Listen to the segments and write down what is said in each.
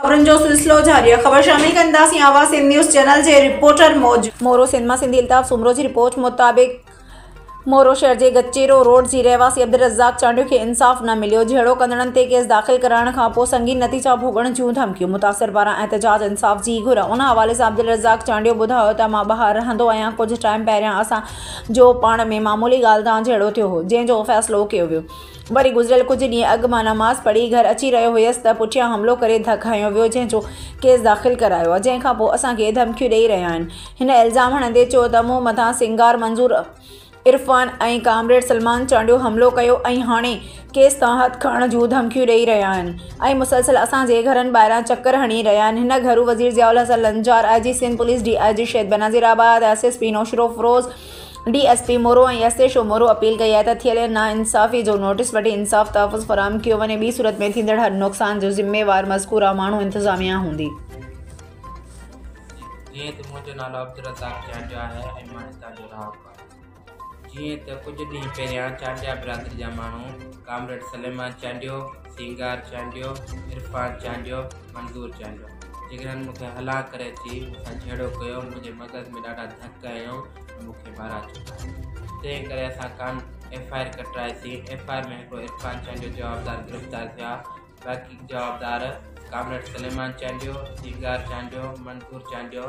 خبرن جو سلسلو جاري آهي خبر شامل ڪنداسين آواز سنڌ نيوز چينل جي رپورٽر موجب مورو سنڌ مان سنڌي الطاف سومرو جي رپورٽ مطابق مورو شهر جي گچيرو روڊ جي رهواسي عبدالرزاق چانڊيو کي انصاف نه مليو جهيڙو ڪندڙن تي ڪيس داخل ڪرائڻ کان پوء سنگين نتيجا ڀوڳڻ جون ڌمڪيون متاثر پاران احتجاج انصاف جي گهر ان حوالي سان عبدالرزاق چانڊيو ٻڌايو ته مان ٻاهر رهندو آهيان ڪجهه ٽائيم پهريان اسان جو پاڻ ۾ معمولي ڳالهه تان جهيڙو ٿيو هو جنهن جو فيصلو ڪيو ويو وري گذريل ڪجهه ڏينهن اڳ مان نماز پڙهي گهر اچي رهيو هيس ته پٺيان حملو ڪري ڌڪ هنيو ويو جنهن جو ڪيس داخل ڪرايو آهي جنهن کانپوء اسان کي ڌمڪيون ڏئي رهيا آهن هن الزام هڻندي چيو ته مون مٿان سنگار منظور عرفان ۽ ڪامريڊ سلمان چانڊيو حملو ڪيو ۽ هاڻي ڪيس تان هٿ کڻڻ جون ڌمڪيون ڏئي رهيا آهن ۽ مسلسل اسان جي گهرن ٻاهران چڪر هڻي رهيا آهن هن گهرو وزير Zia ul Hasan Lanjar I G Sindh police D I G Shaheed Benazirabad S S P Naushahro Feroze D S P Moro ۽ S H O Moro appeal ڪئي آهي ته ٿيل ناانصافي جو نوٽيس وٺي انصاف تحفظ فراهم ڪيو وڃي ٻي صورت ۾ ٿيندڙ هر نقصان جو ذميوار مذڪوره ماڻهو انتظاميا هوندي. جيئن ته منهنجو نالو عبدالرزاق چانڊيو آهي ۽ مان هتان جو رهاڪو آهيان جيئن ته ڪجهه ڏينهن پهريان چانڊيا برادري جا ماڻهو ڪامريڊ سليمان چانڊيو سينگار چانڊيو، عرفان چانڊيو، منظور چانڊيو جيڪڏهن هن مون کي هلا ڪري اچي مون سان جهيڙو ڪيو منهنجي مغز ۾ ڏاڍا ڌڪ هنيو ۽ مون کي ٻاهران ڇڪايو تنهن ڪري اسان ڪان ايف آء آر ڪٽرائي سي ايف آء آر ۾ هڪڙو عرفان چانڊيو جوابدار گرفتار ٿيا باقي جوابدار ڪامريڊ سليمان چانڊيو، سينگار چانڊيو، منظور چانڊيو،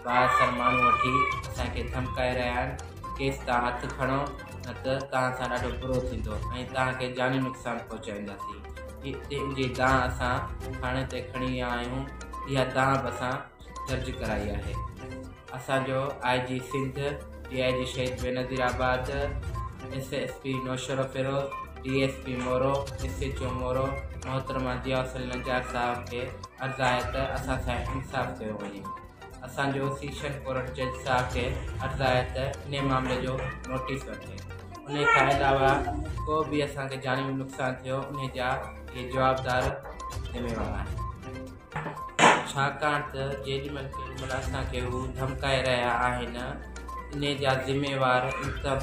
بااثر ماڻهو وٺي اسان کي ڌمڪائي رهيا آهن ڪيس تان هٿ کڻو نه ته توهان سان ڏاڍو برو ٿيندو ۽ توهان کي جاني نقصان پهچائينداسين تنهن جي دانهن اسان ٿاڻي تي کڻي ويا آهيون اها دانهن به اسان درج ڪرائي آهي اسان جو آء G Sindh D I G Shaheed Benazirabad S S P Naushahro Feroze D S P Moro, S H O Moro, محترمه ضياء الحسن نجار صاحب کي عرض آهي ته اسان سان انصاف ڪيو وڃي. اسان جو سيشن ڪورٽ جج صاحب کي عرض آهي ته انهي معاملي جو نوٽيس وٺي. انهي کان علاوه ڪو به اسان کي جاني نقصان ٿيو انهي جا اهي جوابدار ذميوار آهن. ڇاڪاڻ ته جيڏي مهل ڪيڏي مهل اسان کي هو ڌمڪائي رهيا آهن انهي جا ذميوار انتظامي